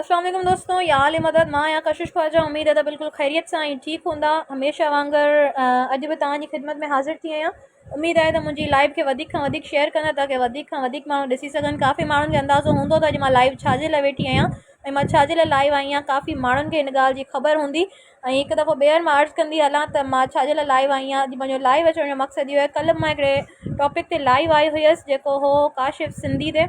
السلام عليڪم دوستو يا عالي مدد مان يا ڪشش خواجا اميد ادا بالکل خيريت سان ۽ ٺيڪ هوندا هميشه وانگر اڄ به توهان جي خدمت ۾ حاضر ٿي آهيان اميد آهي ته منهنجي لائيو کي وڌيڪ کان وڌيڪ شيئر ڪندا تاڪي وڌيڪ کان وڌيڪ ماڻهو ڏسي سگهن ڪافي ماڻهن کي اندازو هوندو ته اڄ مان لائيو ڇا جي لاء ويٺي آهيان ۽ مان ڇا جي لاء لائيو آهيان ڪافي ماڻهن کي ان ڳالهه جي خبر هوندي ۽ هڪ دفعو ٻيهر مان عرض ڪندي هلان ته مان ڇا جي لاء لائيو آهي آهيان اڄ منهنجو لائيو اچڻ جو مقصد اهو آهي ڪلهه به مان هڪڙي ٽاپڪ تي لائيو آئي هيس جيڪو هو ڪاشف سنڌي تي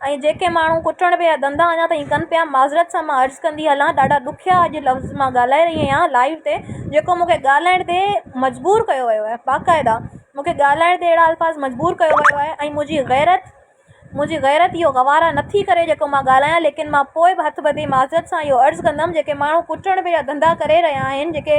۽ جيڪي ماڻهو ڪٽڻ پيا ڌنڌا اڃا تائين ڪن پيا معذرت سان مان عرض ڪندي هلان ڏاڍا ڏکيا اڄ لفظ مان ڳالهائي رهي آهيان لائيو تي جيڪو مونکي ڳالهائڻ تي مجبور ڪيو ويو آهي باقاعده مونکي ڳالهائڻ تي اهڙا الفاظ مجبور ڪيو ويو آهي ۽ منهنجي غيرت منهنجي غيرت اهو گوارا نٿي ڪري جيڪو مان ڳالهايان ليڪن مان پوء به هٿ ٻڌي معذرت سان اهو عرض ڪندم جيڪي ماڻهو ڪٽڻ پيا ڌنڌا ڪري رهيا آهن جيڪي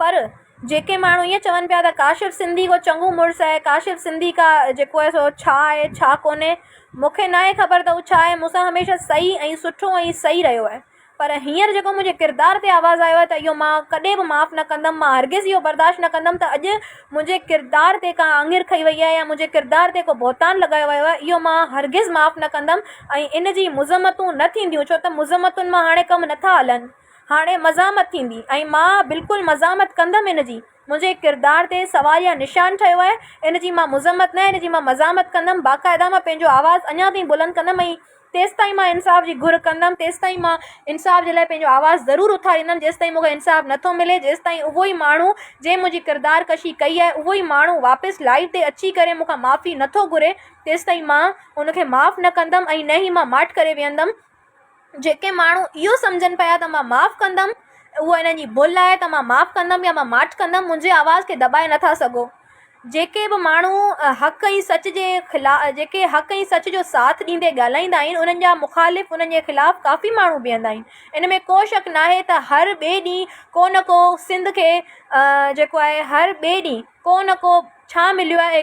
پر جيڪي ماڻهو ائين چون پيا ته ڪاشف سنڌي ڪو چڱو مڙس آهي ڪاشف سنڌي ڪا جيڪو آهي سو ڇا آهي ڇا ڪونهي مونکي ناهي خبر ته هو ڇا آهي مون سان هميشه سهي ۽ سٺو ۽ سهي رهيو آهي پر هينئر جيڪو منهنجي ڪردار تي آواز آيو آهي ته اهو مان ڪڏهن به معاف نه ڪندم مان هرگز اهو برداشت نه ڪندم ته اڄ منهنجي ڪردار تي ڪا آڱر کئي وئي آهي يا منهنجي ڪردار تي ڪو بهتان لڳايو ويو آهي اهو مان هرگز معاف نه ڪندم ۽ ان جي مذمتون نه ٿينديون ڇو ته مذمتن مان هاڻي ڪم نٿا هلن هاڻي مزاحمت ٿيندي ۽ مان بلڪل مزاحمت ڪندم ان جي. منهنجي ڪردار تي سوال يا نشان ٺهيو آهي. ان جي مان مذمت نه ان جي مان مزاحمت ڪندم. باقاعده مان پنهنجو آواز اڃا تائين بلند ڪندم ۽ تيستائين مان انصاف جي گهر ڪندم تيستائين مان انصاف جي لاء پنهنجو آواز ضرور اٿاريندم جيستائين مونکي انصاف نه ٿو ملي جيستائين اهو ئي ماڻهو جنهن منهنجي ڪردار ڪشي ڪئي آهي اهو ئي ماڻهو واپس لائيو تي اچي ڪري مونکان معافي نه ٿو گهري تيستائين مان ان کي معاف نه ڪندم ۽ نه ئي مان ماٺ ڪري ويهندم جيڪي ماڻهو اهو سمجهن پيا ته مان معاف ڪندم، اهو انهن جي ڀل آهي ته مان معاف ڪندم يا مان ماٺ ڪندم، منهنجي آواز کي دٻائي نٿا سگهو. جيڪي به ماڻهو حق ۽ سچ جي خلاف جيڪي حق ۽ سچ جو ساٿ ڏيندي ڳالهائيندا آهن، انهن جا مخالف انهن جي خلاف ڪافي ماڻهو بيهندا آهن. ان ۾ ڪو شڪ ناهي ته هر ٻئي ڏينهن ڪو نه ڪو سنڌ کي جيڪو آهي هر ٻئي ڏينهن ڪو نه ڪو ڇا مليو آهي.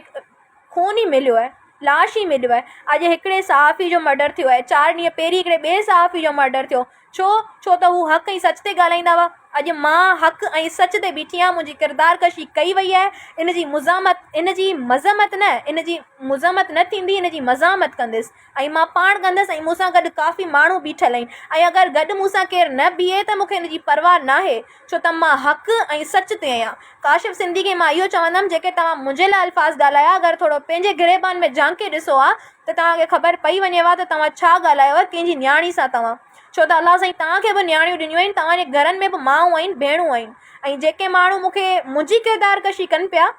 خون ئي مليو آهي، لاش ئي مليو آهي، اڄ هڪڙي صحافي جو مرڊر ٿيو آهي، چار ڏينهن پهرين هڪڙي ٻئي صحافي جو مرڊر ٿيو، ڇو؟ ڇو ته هو حق ۽ سچ تي ڳالهائيندا هئا، اڄ مان حق ۽ سچ تي بيٺي آهيان، منهنجي ڪردار ڪشي ڪئي وئي آهي، ان جي مزاحمت، ان جي مذمت نه، ان جي مذمت نه ٿيندي، ان جي مزاحمت ڪنديس. ۽ مان پاڻ ڪندس ۽ مون سان گڏ ڪافي ماڻهو بيٺل آهن ۽ اگر گڏ مون سان ڪير نه بيهي ته مون کي ان جي پرواهه ناهي ڇو ته مان حق ۽ سچ تي آهيان ڪاشف سنڌي کي مان اهو چوندم جيڪي توهان منهنجي لاء الفاظ ڳالهايا اگر ٿورو پنهنجي گريبان ۾ جهانڪي ڏسو ها ته توهان کي خبر پئي وڃي ها ته توهان ڇا ڳالهايو ها ڪنهن جي نياڻي سان توهان ڇو ته الله سائين توهان کي به نياڻيون ڏنيون آهن توهان جي گهرن ۾ به مائون آهن ڀيڻون آهن ۽ جيڪي ماڻهو مون کي منهنجي ڪردار ڪشي ڪن پيا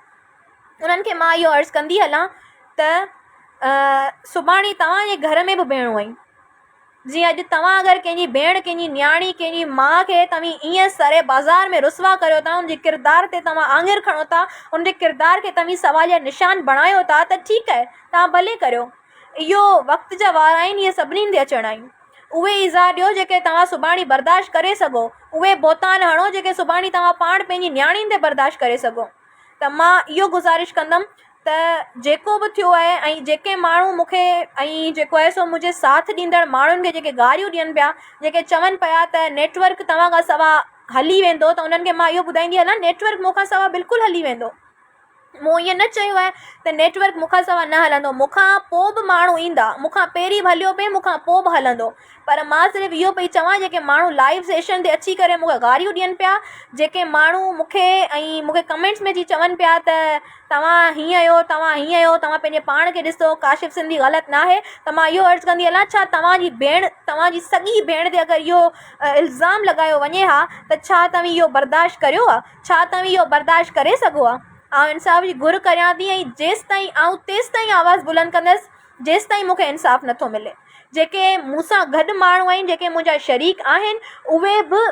انهن کي مان اهو عرض ڪندي هلان ته سڀاڻي توهان جي گهر ۾ به ڀيڻون آهن. جيئن اڄ توهان اگر ڪنهن جي ڀيڻ، ڪنهن جي نياڻي، ڪنهن جي ماء کي توهين ايئن سري بازار ۾ رسوا ڪريو ٿا، ان جي ڪردار تي توهان آڱر کڻو ٿا، ان جي ڪردار کي توهين سوال يا نشان بڻايو ٿا ته ٺيڪ آهي، توهان ڀلي ڪريو. اهو وقت جا وار آهن، اهي سڀني هنڌ اچڻا آهن. اهي ايذاء ڏيو جيڪي توهان سڀاڻي برداشت ڪري سگهو. اهي بهتان هڻو جيڪي سڀاڻي توهان پاڻ پنهنجي نياڻين تي برداشت ڪري سگهو. ته مان اهو گذارش ڪندم ته جيڪو به ٿيو آهي ۽ جيڪي ماڻهو مون کي ۽ جيڪو آهي سو منهنجي ساٿ ڏيندڙ ماڻهن کي جيڪي گاريون ڏين پيا جيڪي چون پيا ته نيٽورڪ توهان کان سوا هلي ويندو ته انهن کي مان اهو ٻڌائيندي هلان نيٽورڪ مون کان سوا بلڪل هلي ويندو مون ائين نه چيو آهي ته نيٽورڪ مون کان سوا نه هلندو مون کان پوء به ماڻهو ايندا مون کان پهرين به هليو پئي مون کان پوء به هلندو پر مان صرف اهو پئي چوان جيڪي ماڻهو لائيو سيشن تي اچي ڪري مونکي گاريون ڏين پيا جيڪي ماڻهو مونکي ۽ مونکي ڪمينٽس ۾ جي چون پيا ته توهان هيئن آهيو توهان هيئن آهيو توهان پنهنجي پاڻ کي ڏسو ڪاشف سنڌي غلط ناهي ته مان اهو عرض ڪندي هلان ڇا توهان جي ڀيڻ توهان جي سڳي ڀيڻ تي اگر اهو الزام لڳايو وڃي ها ته ڇا توهين اهو برداشت ڪريو ها ڇا توهين اهو برداشت ڪري سگهو ها آئون انصاف جي گهر ڪريان ٿي ۽ جيستائين آئون تيستائين آواز بلند ڪندس جيستائين مون کي انصاف نه ٿو ملي. جيڪي مون سان گڏ ماڻهو آهن، جيڪي منهنجا شريڪ آهن، اهي به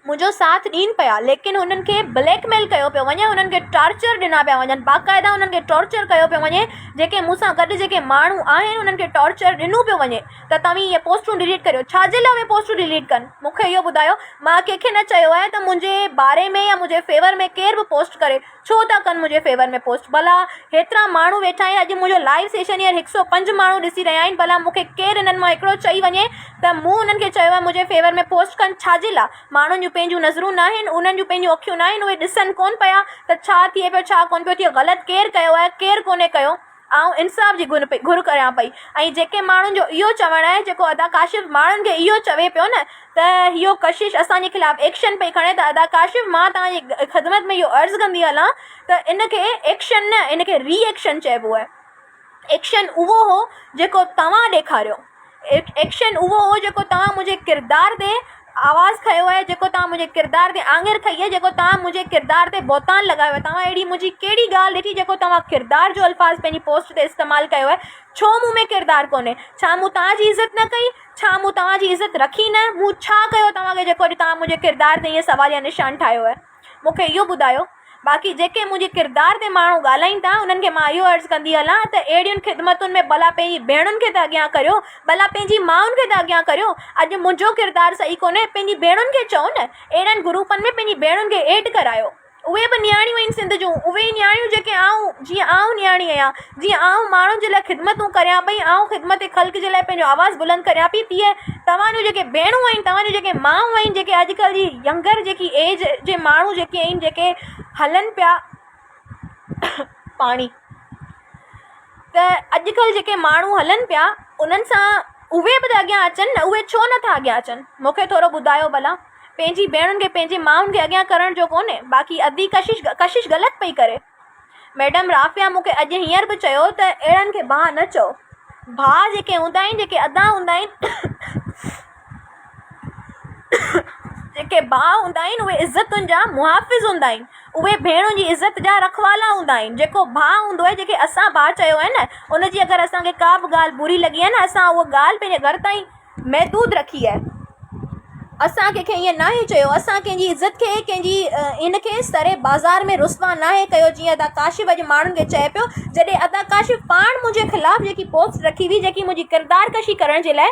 منهنجو ساٿ ڏين پيا، ليڪن هنن کي بليڪ ميل ڪيو پيو وڃي، هنن کي ٽارچر ڏنا پيا وڃن، باقاعده هنن کي ٽارچر ڪيو پيو وڃي، جيڪي مون سان گڏ جيڪي ماڻهو آهن، انهن کي ٽارچر ڏنو پيو وڃي ته توهين اهي پوسٽون ڊليٽ ڪريو، ڇا جي لاء اهي پوسٽون ڊليٽ ڪن؟ مون کي اهو ٻڌايو، مان ڪنهن کي نه چيو آهي ته منهنجي باري ۾ يا منهنجي فيور ۾ ڪير به پوسٽ ڪري، ڇو ٿا ڪن منهنجي فيور ۾ پوسٽ ڀلا هيترا ماڻهو ويٺا آهن اڄ منهنجو لائيو سيشن هيئر هڪ سؤ پنج ماڻهو ڏسي رهيا آهن ڀلا مون کي ڪير انهن مان هڪڙو چئي وڃي ته مون انهن کي چيو آهي منهنجي فيور ۾ پوسٽ ڪن ڇاجي لا ماڻهن جون پنهنجون نظرون ناهن انهن جون پنهنجون اکيون ناهن اهي ڏسن ڪون پيا ته ڇا ٿئي پيو ڇا ڪون پيو ٿئي غلط ڪير ڪيو آهي ڪير ڪونهي ڪيو. آئون انصاف جي گهر پئي گهر ڪريان پئي ۽ جيڪي ماڻهن جو اهو چوڻ آهي جيڪو ادا ڪاشف ماڻهن کي اهو چوي پيو نه ته اهو ڪشش اسان جي خلاف ايڪشن پئي کڻي ته ادا ڪاشف مان توهان جي خدمت ۾ اهو عرض ڪندي هلان ته ان کي ايڪشن نه ان کي ري ايڪشن چئبو آهي ايڪشن اهو هو جيڪو توهان ڏيکاريو ايڪشن اهو هو جيڪو توهان منهنجي ڪردار تي آواز کنيو آهي جيڪو توهان منهنجي ڪردار تي آڱر کنئي آهي جيڪو توهان منهنجي ڪردار تي بهتان لڳايو آهي توهان اهڙي منهنجي ڪهڙي ڳالهه ڏٺي جيڪو توهان ڪردار جو الفاظ پنهنجي پوسٽ تي استعمال ڪيو آهي ڇو مون ۾ ڪردار ڪونهي ڇا مون توهان جي عزت نه ڪئي ڇا مون توهان جي عزت رکي نه مون ڇا ڪيو توهان کي جيڪو اڄ توهان منهنجي ڪردار تي ائين سواليه نشان ٺاهيو آهي مون کي اهو ٻڌايو. باقي جيڪي منهنجي ڪردار تي ماڻهو ڳالهائين ٿا، انهن کي مان اهو عرض ڪندي هلان ته اهڙين خدمتن ۾ ڀلا پنهنجي ڀيڻن کي ته اڳيان ڪريو، ڀلا پنهنجي مائن کي ته اڳيان ڪريو. اڄ منهنجو ڪردار صحيح ڪونهي، پنهنجي ڀيڻن کي چئو نه. اهڙن گروپن ۾ پنهنجي ڀيڻن کي ايڊ ڪرايو. اهي به نياڻيون آهن سنڌ جون، اهي ئي نياڻيون جيڪي آئون، جيئن آئون نياڻي آهيان. جيئن آئون ماڻهن جي لاء خدمتون ڪريان پئي، آئون خدمت خلق جي لاء پنهنجو آواز بلند ڪريان پئي، تيئن توهان جون جيڪي ڀيڻون آهن، توهان جون جيڪي مائون آهن، جيڪي اڄڪلهه جي ينگر جيڪي ايج جي ماڻهو جيڪي آهن، جيڪي هلن پيا پاڻي ته اڄڪلهه جيڪي ماڻهو هلن پيا انهن سان اهي به ته اڳيان اچن نه، اهي ڇو نٿا اڳيان اچن، مونکي ٿورو ٻڌايو ڀلا، پنهنجي ڀيڻن کي پنهنجي مائن کي اڳيان ڪرڻ جو ڪونهي، باقي ادي ڪشش ڪشش غلط پئي ڪري. ميڊم رافعه مون کي اڄ هينئر به چيو ته اهڙن کي ڀاء نه چئو. ڀاء جيڪي هوندا آهن، جيڪي ادا هوندا آهن، جيڪي ڀاء هوندا آهن، اهي عزتن جا محافظ هوندا آهن. اهي ڀيڻن جي عزت جا رکوالا هوندا آهن. جيڪو ڀاء هوندو آهي، جنهن کي اسان ڀاء چيو آهي نه، ان جي اگر اسان کي ڪا به ڳالهه بري لڳي آهي نه، اسان اها ڳالهه پنهنجي گهر تائين، محدود رکي آهي. اسان ڪنهن کي ائين ناهي چيو. اسان ڪنهن جي عزت کي، ڪنهن جي ان کي سري بازار ۾ رسوا ناهي ڪيو جيئن ادا ڪاشف اڄ ماڻهن کي چئي پيو. جڏهن ادا ڪاشف پاڻ منهنجي خلاف جيڪي پوسٽ رکي هئي، جيڪي منهنجي ڪردار ڪشي ڪرڻ جي لاء.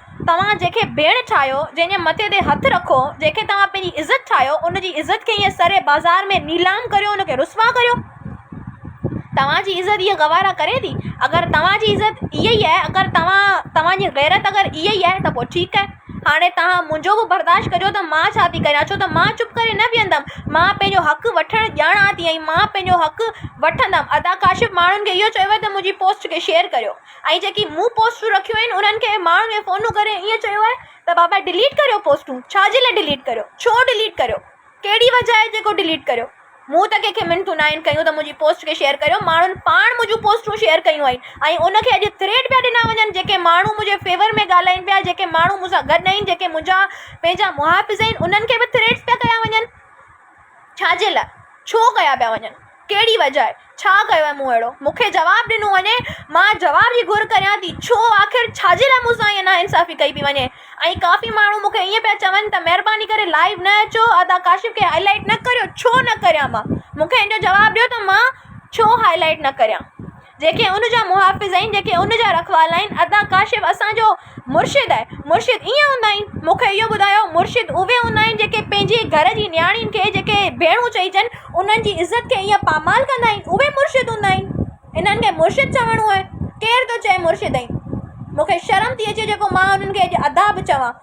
توهان جنهن کي ڀيڻ ٺاهيو، جنهن جي مٿي تي هٿ رکو، جنهن کي توهان پنهنجي عزت ٺاهيو، ان جي عزت کي ائين سر بازار ۾ نيلام ڪريو، ان کي رسوا ڪريو. توهان جي عزت اها گوارا ڪري ٿي؟ اگر توهان جي عزت اها ئي آهي، اگر توهان، توهان جي غيرت اگر اها ئي آهي ته پوء ٺيڪ آهي. هاڻي توهان منهنجو به برداشت ڪجو ته مان ڇا ٿي ڪريان، ڇو ته مان چپ ڪري نه ويهندم. مان پنهنجو حق وٺڻ ڄاڻان ٿي ۽ مان پنهنجو حق وٺندم. ادا ڪاشف ماڻهن کي اهو چئي ويو ته منهنجي پوسٽ کي شيئر ڪريو. ۽ جيڪي مون پوسٽون رکيون آهن انهن کي ماڻهن کي فونون ڪري ائين چيو آهي ته بابا ڊليٽ ڪريو پوسٽون ڇا جي لاء ڊليٽ ڪريو ڇو ڊليٽ ڪريو ڪهڙي وجهه آهي جيڪو ڊليٽ ڪريو مون ته ڪنهنکي منٿون نه آهن ڪيون ته منهنجي پوسٽ کي شيئر ڪريو ماڻهن پاڻ منهنجون پوسٽون شيئر ڪيون آهن ۽ ان کي اڄ ٿريڊ پيا ڏنا وڃن جيڪي ماڻهو منهنجي فيور ۾ ڳالهائين پيا جيڪي ماڻهو مون سان گڏ آهن جيڪي منهنجا پنهنجا محافظ آهن انهن کي به ٿريڊز پيا ڪيا وڃن ڇا جي لاء؟ ڇو ڪيا پيا وڃن؟ ڪهڙي وجهه آهي؟ ڇا ڪيو آهي مون اهڙو؟ مون کي جواب ڏنو وڃي. مان جواب جي گهر ڪريان ٿي. ڇو؟ آخر ڇا جي لاء مون سان ائين ناانصافي ڪئي پئي وڃي؟ ۽ ڪافي ماڻهو مون کي ائين پيا چون ته مهرباني ڪري لائيو نه اچو، ادا ڪاشف کي هائي لائيٽ نه ڪريو. ڇو نه ڪريان مان؟ مون کي ان جو جواب ڏيو ته مان ڇو هائي لائيٽ نه ڪريان؟ جيڪي ان جا محافظ آهن، جيڪي ان جا رکوالا آهن، ادا ڪاشف اسان جو مرشد آهي، مرشد ائين هوندا آهن، مون کي اهو ٻڌايو مرشد اهي هوندا آهن جيڪي پنهنجي گهر جي نياڻين کي جيڪي ڀيڻون چئجن انهن جي عزت کي ائين پامال ڪندا آهن اهي مرشد هوندا آهن، انهن کي مرشد چوڻو آهي، ڪير ٿو چئي مرشد آهن، مون کي شرم ٿي اچي جيڪو مان انهن کي اڄ ادا به چوان.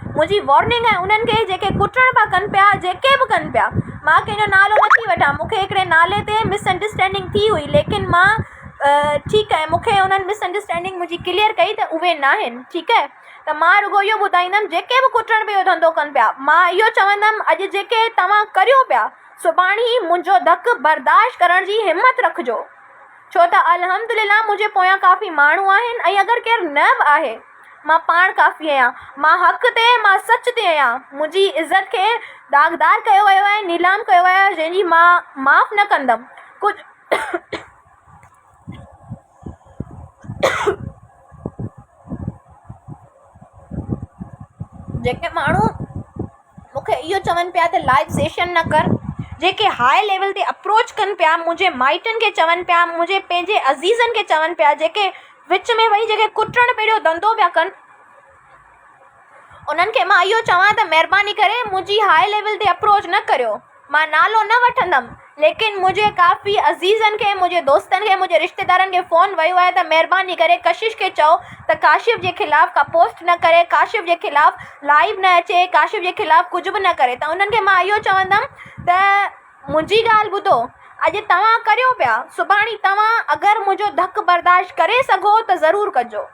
منهنجي وارننگ ۽ انهن کي جيڪي ڪٽڻ پيا ڪن پيا جيڪي به ڪن پيا مان ڪنهن جو نالو نه ٿي وٺان مون کي هڪڙي نالي تي مس انڊرسٽينڊنگ ٿي هئي ليڪن مان ٺيڪ اهي مون کي انهن مس انڊرسٽينڊنگ منهنجي ڪليئر ڪئي ته اهي ناهن ٺيڪ اهي ته مان رڳو اهو ٻڌائيندم جيڪي به ڪٽڻ پيو ڌنڌو ڪن پيا مان اهو چوندم اڄ جيڪي توهان ڪريو پيا سڀاڻي منهنجو ڌڪ برداشت ڪرڻ جي همت رکجو ڇو ته الحمدلله منهنجي پويان ڪافي ماڻهو آهن ۽ اگر ڪير نه به آهي مان پاڻ ڪافي آهيان. مان حق تي آهيان. مان سچ تي آهيان. منهنجي عزت کي داغدار ڪيو ويو آهي، نيلام ڪيو ويو آهي، جنهن جي مان معاف نه ڪندم. ڪجهه جيڪي ماڻهو. مونکي اهو چون پيا ته لائيو سيشن نه ڪر جيڪي هاء ليول تي اپروچ ڪن پيا منهنجي مائٽن کي چون پيا منهنجي پنهنجي عزيزن کي چون پيا جيڪي وچ ۾ ويهي جيڪي ڪٽڻ پيڙهيو ڌنڌو پيا ڪن انهن کي مان اهو چوان ته مهرباني ڪري منهنجي هاء ليول تي اپروچ نه ڪريو. مان نالو نه وٺندم ليڪن منهنجي ڪافي عزيزن کي منهنجي دوستن کي منهنجي رشتيدارن کي فون ويو آهي ته مهرباني ڪري ڪشش کي چئو ته ڪاشف جي خلاف ڪا پوسٽ نه ڪري ڪاشف جي خلاف لائيو نه اچي ڪاشف جي خلاف ڪجهه به نه ڪري ته انهن کي مان اهو چوندم ته منهنجي ڳالهه ٻڌو اڄ توهان ڪريو پيا سڀاڻي توهان اگر منهنجو ڌڪ برداشت ڪري سگهو ته ضرور ڪجو.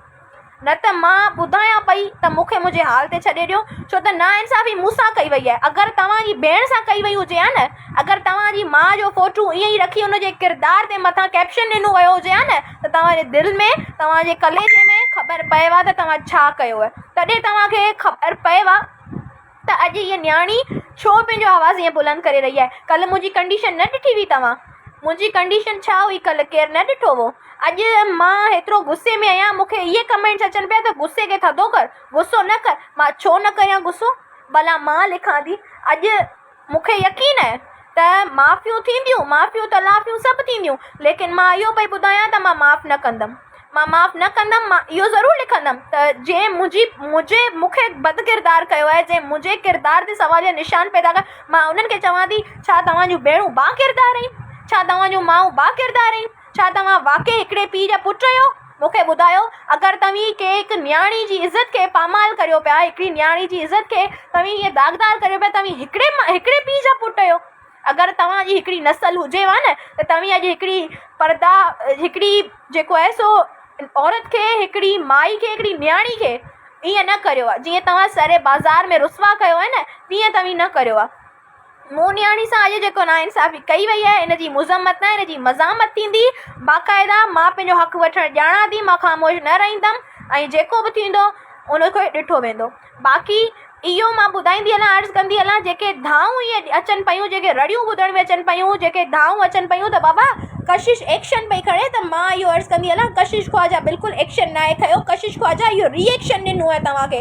نه ته مان ٻڌايان پئي ته مون کي منهنجي حال تي ڇڏي ڏيو، ڇو ته ناانصافي مون سان ڪئي وئي آهي. اگر توهان جي ڀيڻ سان ڪئي وئي هجي ها نه، اگر توهان جي ماء جو فوٽو ائين ئي رکي ان جي ڪردار تي مٿان ڪئپشن ڏنو ويو هجي ها نه ته توهان جي دل ۾، توهان جي ڪليجي ۾ خبر پئي ها ته توهان ڇا ڪيو آهي. تڏهن توهان کي خبر پئي ها. ته اڄ هيء نياڻي ڇو پنهنجو آواز ائين بلند ڪري رهي آهي. ڪلهه منهنجي ڪنڊيشن نه ڏٺي هئي توهان؟ منهنجي ڪنڊيشن ڇا هئي ڪلهه ڪير نه ڏٺو هو. اڄ مان هيترو غصي ۾ آهيان مون کي اهي ڪمينٽس اچن پيا ته غصي کي ٿڌو ڪر، غصو نه ڪر. مان ڇو نه ڪريان غصو؟ ڀلا مان لکان ٿي. اڄ مون کي يقين آهي. ته معافيون ٿينديون، معافيون تلافيون سڀ ٿينديون، ليڪن مان اهو پئي ٻڌايان ته مان معاف نه ڪندم، مان معاف نه ڪندم، مان اهو ضرور لکندم ته جنهن منهنجي منهنجي مون کي بد ڪردار ڪيو آهي، جنهن منهنجي ڪردار تي سوال جا نشان پيدا ڪيا، مان انهن کي چوان ٿي ڇا توهان جون ڀيڻون باڪردار آهن؟ ڇا توهان جون مائون باڪردار آهن؟ ڇا توهان واقعي هڪڙي پيء جا پٽ آهيو؟ مون کي ٻڌايو، اگر توهين ڪنهن هڪ نياڻي جي عزت کي پامال ڪريو پيا، هڪڙي نياڻي جي عزت کي توهين هيئن داغدار ڪريو پيا، توهين هڪڙي مان هڪڙي پيء جا پٽ آهيو. اگر توهان جي هڪڙي نسل هجي ها نه ته توهين اڄ هڪڙي پرده هڪڙي جيڪو آهي سو عورت کي هڪڙي مائي کي هڪڙي نياڻي کي ايئن نه ڪريو ها، جيئن توهان سر بازار ۾ رسوا ڪيو آهي نه تيئن توهين نه ڪريو ها. مون نياڻي سان اڄ جيڪو ناانصافي ڪئي وئي آهي ان جي مذمت نه ان جي مزاحمت ٿيندي. باقاعده مان پنهنجو حق وٺڻ ڄاڻان ٿي مان خاموش نه رهندم ۽ جيڪو به ٿيندو ان کي ڏٺو ويندو. باقي اهو مان ٻڌائيندي هلان عرض ڪندي هلان جيڪي دانهون اهي اچن پيون جيڪي رڙيون ٻڌڻ ۾ اچن پيون جيڪي دانهون اچن پيون ته بابا ڪشش ايڪشن پئي کڻي ته مان اهو عرض ڪندي هلان ڪشش خواجه بلڪل ايڪشن ناهي کنيو ڪشش خواجه اهو ري ايڪشن ڏنو آهي توهان کي.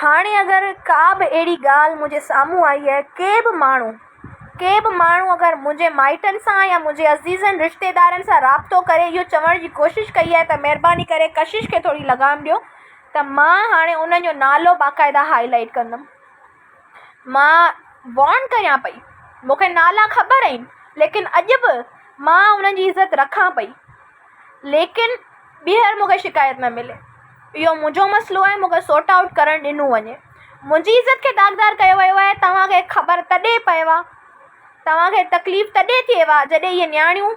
هاڻي اگر ڪا به اهڙي ڳالهه منهنجي سامهون آئي ۽ ڪي به ماڻهو، ڪي به ماڻهو اگر منهنجي مائٽن سان يا منهنجي عزيزن رشتيدارن سان رابطو ڪري اهو چوڻ جي ڪوشش ڪئي آهي ته مهرباني ڪري ڪشش کي ٿوري لغام ڏيو ته مان هاڻي انهن جو نالو باقاعده هائي لائيٽ ڪندم. مان وارن ڪريان پئي. مون کي نالا خبر آهن ليڪن اڄ به مان انهن جي عزت رکان پئي. ليڪن ٻيهر مون کي شڪايت نه ملي. اهو منهنجو مسئلو آهي، مون کي سورٽ آئوٽ ڪرڻ ڏنو وڃي. منهنجي عزت کي داغدار ڪيو ويو آهي. توهان کي خبر تڏهن پئي ها، توهان کي تڪليف تڏهن ٿئي ها جڏهن اهي نياڻيون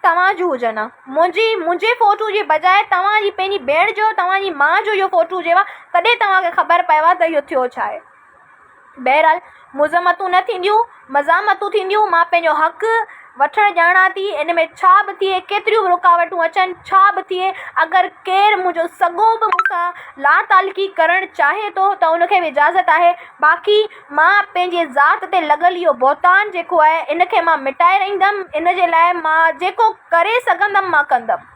توهان جون هجن ها. منهنجي منهنجي فوٽو جي بجاء توهان جي پنهنجي ڀيڻ جو، توهان جي ماء جو اهو فوٽو هجي ها، تڏهن توهان کي خبر پئي ها ته اهو ٿيو ڇا آهي. بهرحال مذمتون نه ٿينديون، مزاحمتون ٿينديون، مان پنهنجو حق وٺڻ ڄاڻان ٿي، ان ۾ ڇا به ٿئي، ڪيتريون به رڪاوٽون اچن، ڇا به ٿئي، اگر ڪير منهنجو سڳو به مون سان لاتعلقي ڪرڻ چاهي ٿو ته ان کي به اجازت آهي، باقي مان پنهنجي ذات تي لڳل اهو بهتان جيڪو آهي، ان کي مان مٽائي رهندم، ان جي لاء مان جيڪو ڪري سگهندم، مان ڪندم.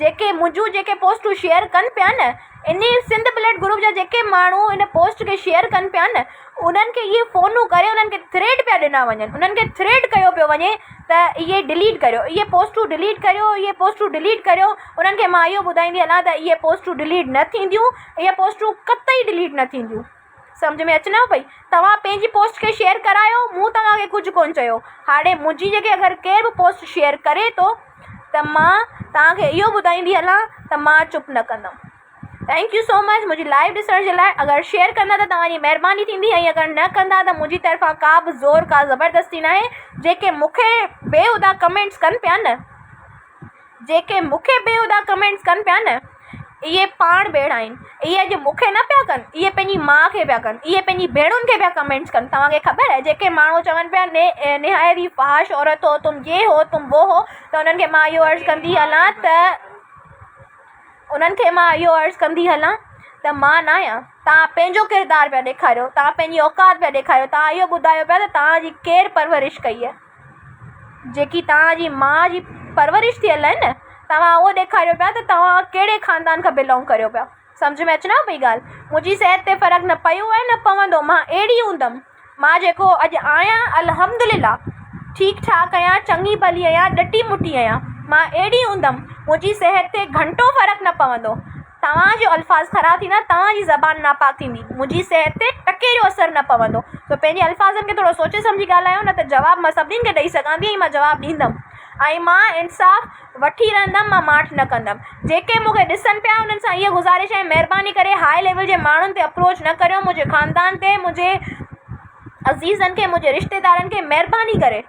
جيڪي منهنجون جيڪي پوسٽون شيئر ڪن پيا نه انهي سنڌ بليڊ گروپ جا جيڪي ماڻهو ان پوسٽ کي شيئر ڪن پيا نه انهن کي اهي فونون ڪري انهن کي ٿريٽ پيا ڏنا وڃن انهن کي ٿريٽ ڪيو پيو وڃي ته اهي ڊليٽ ڪريو اهي پوسٽون ڊليٽ ڪريو اهي پوسٽون ڊليٽ ڪريو انهن کي مان اهو ٻڌائيندي هلان ته اهي پوسٽون ڊليٽ نه ٿينديون اهي پوسٽون قطعي ڊليٽ نه ٿينديون سمجهه ۾ اچنو پئي توهان پنهنجي پوسٽ کي شيئر ڪرايو مون توهان کي ڪجهه ڪون چيو هاڻي منهنجي جيڪي اگر ڪير به پوسٽ شيئر ڪري ٿو ته مان توهان کي اهو ٻڌائيندي هلان ته مان چپ نه ڪندم ٿينڪ يو سو مچ منهنجي لائيو ڏسڻ جي لاء اگر شيئر ڪندا ته توهان جي مهرباني ٿيندي ۽ اگر نه ڪندا ته منهنجي طرفان ڪا به زور ڪا زبردستي ناهي جيڪي مونکي بيهودا ڪمينٽس ڪن پيا نه جيڪي مون کي بيهودا ڪمينٽس ڪن پيا نه اهي پاڻ بيڙا آهن اهي اڄ مون کي نه پيا ڪن اهي پنهنجي ماء کي پيا ڪن اهي پنهنجي ڀيڻن کي پيا ڪمينٽس ڪن توهان کي خبر آهي جيڪي ماڻهو چون پيا ني نهايت ئي فحاش عورت هو تم يي هو تم وو هو ته انهن کي مان اهو عرض ڪندي هلان ته انهن کي مان اهو عرض ڪندي هلان ته مان نه آهيان توهان پنهنجو ڪردار پيا ڏيکاريو توهان پنهنجي اوقات پيا ڏيکاريو توهان اهو ٻڌايو پيا ته توهان جي ڪير پرورش ڪئي جيڪي توهان جي ماء جي پرورش ٿيل آهي نه توهان اهو ڏيکاريو پيا ته توهان ڪهڙي خاندان کان بلونگ ڪريو پيا سمجهه ۾ اچنو پئي ڳالهه منهنجي صحت تي فرق نه پيو آهي نه پوندو مان اهڙي هوندم مان جيڪو اڄ آهيان الحمدلله ٺيڪ ٺاڪ آهيان چڱي ڀلي آهيان ڏٽي مٽي آهيان مان اهڙي هوندم منهنجي صحت تي گهنٽو فرق نه پوندو توهان جي الفاظ خراب ٿيندا، توهان جي زبان ناپاڪ ٿيندي، منهنجي صحت تي ٽڪي جو اثر نه پوندو، سو پنهنجي الفاظن کي ٿورو سوچي سمجهي ڳالهايو، نه ته جواب مان سڀني کي ڏئي سگهان ٿي ۽ مان جواب ڏيندم ۽ مان انصاف وٺي رهندم، مان ماٺ نه ڪندم. جيڪي مون کي ڏسن پيا، انهن سان اها گذارش آهي، مهرباني ڪري هاء ليول جي ماڻهن تي اپروچ نه ڪريو، منهنجي خاندان تي، منهنجي عزيزن کي، منهنجي رشتيدارن کي، مهرباني ڪري.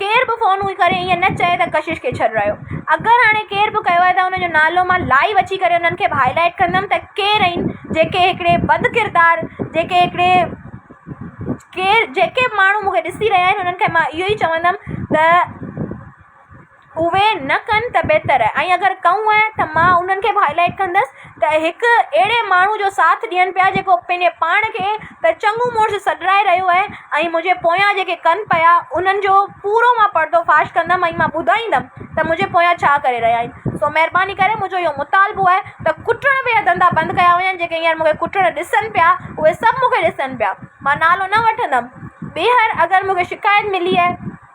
ڪير به فون هئي ڪري ائين نه چئي ته ڪشش کي ڇڏرايو. اگر هاڻي ڪير به ڪيو آهي ته ان جو نالو مان لائيو اچي ڪري انهن کي به هائي لائيٽ ڪندم ته ڪير اهين جيڪي هڪڙي بد ڪردار جيڪي هڪڙي ڪير جيڪي به ماڻهو مون کي ڏسي رهيا آهن انهن کي مان اهو ئي چوندم ته. اهي نه ڪن ته بهتر آهي ۽ اگر ڪئون آهي ته مان انهن کي به هائي لائيٽ ڪندس ته هڪ اهڙي ماڻهو جو ساٿ ڏين پيا جيڪو پنهنجي پاڻ کي ته چڱو مڙس سڏرائي رهيو آهي ۽ منهنجي پويان جيڪي ڪن پيا انهن جو پورو مان پردو فاش ڪندم ۽ مان ٻڌائيندم ته منهنجي پويان ڇا ڪري رهيا آهن سو مهرباني ڪري منهنجو اهو مطالبو آهي ته ڪٽڻ ويا ڌنڌا بند ڪيا وڃن جيڪي هينئر مونکي ڪٽڻ ڏسن پيا اهي سڀ مونکي ڏسن پيا مان نالو نه وٺندم ٻيهر اگر مونکي شڪايت ملي آهي